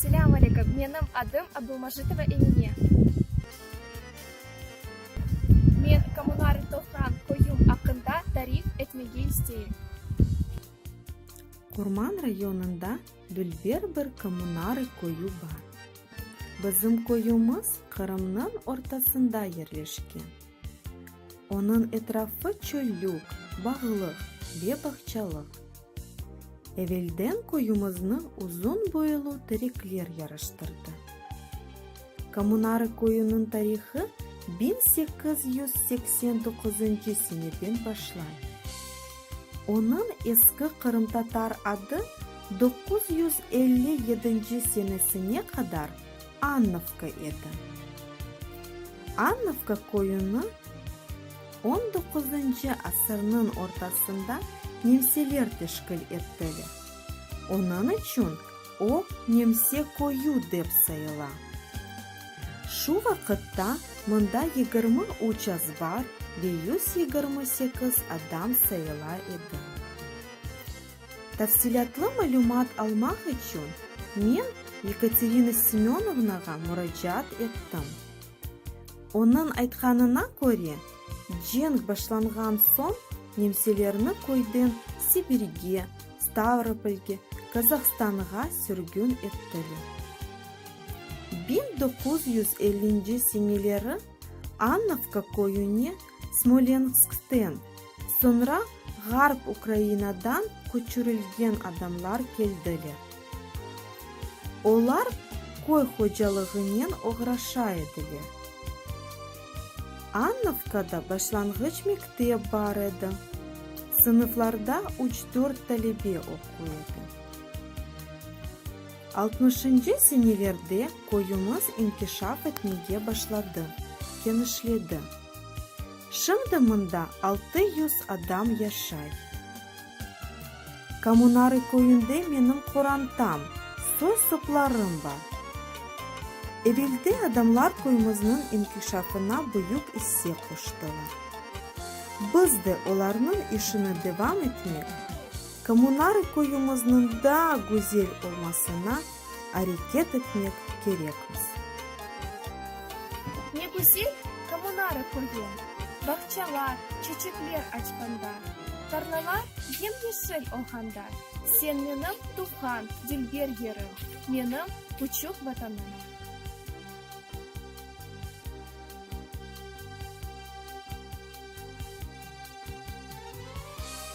Selâm aleyküm, menim adım Abdulmajitova Emine. Men kommunal topraq qoyum aqqında tarif etmege isteyim. Qurman rayonında dülber bir kommunal qoyu bar. Bizim qoyumız Qırımnıñ ortasında yerleşken. Onıñ etrafı çöllük, bağlıq ve bağçalıq. Evelden köyümizni uzun boylu terekler yarıştırdı. Komunarı köyüniñ tarihı biñ sekiz yüz seksen doquzıncı seneden başlay. Onıñ eski qırımtatar adı doquz yüz elli yedinci senesine qadar Annovka edi. Annovka köyüni on doquzıncı asırnıñ ortasında nemseler teşkil ettiler. Onıñ içün o nemse köyü dep sayıla. Şu vaqıtta mında yigirmi üç azbar ve yüz yigirmi sekiz adam sayıla edi. Tafsilâtlı malümat almaq içün men Yekaterina Semönovnağa muracaat ettim. Onıñ aytqanına köre, cenk başlanğan soñ nemselerni köyden Sibirge, Stavropolge, Kazahstanğa sürgün ettiler. Biñ doquz yüz ellinci seneleri Annovka köyüne Smolenskten, Soñra Ğarp Ukrainadan köçürilgen adamlar keldiler. Olar köy hocalığınen oğraşa ediler. Annovkada başlanğıç mektep bar edi, sınıflarda üç-dört talebe oquy edi. Altmışıncı senelerde köyümiz inkişaf etmege başladı, kenişledi. Şimdi mında altı yüz adam yaşay. Komunarı köyünde menim qorantam, soy-soplarım bar. Eveldi adamlar köyümizniñ inkişafına büyük isse qoştılar. Biz de olarnıñ işini devam etmek, komunarı köyümizniñ daa güzel olmasına areket etmek kerekmiz. Ne güzel kommunara köyü, bağçalar çeçekler açqanda, tarlalar yem-yeşil olğanda, sen menim tuvğan dilber yerim, menim küçük Vatanım.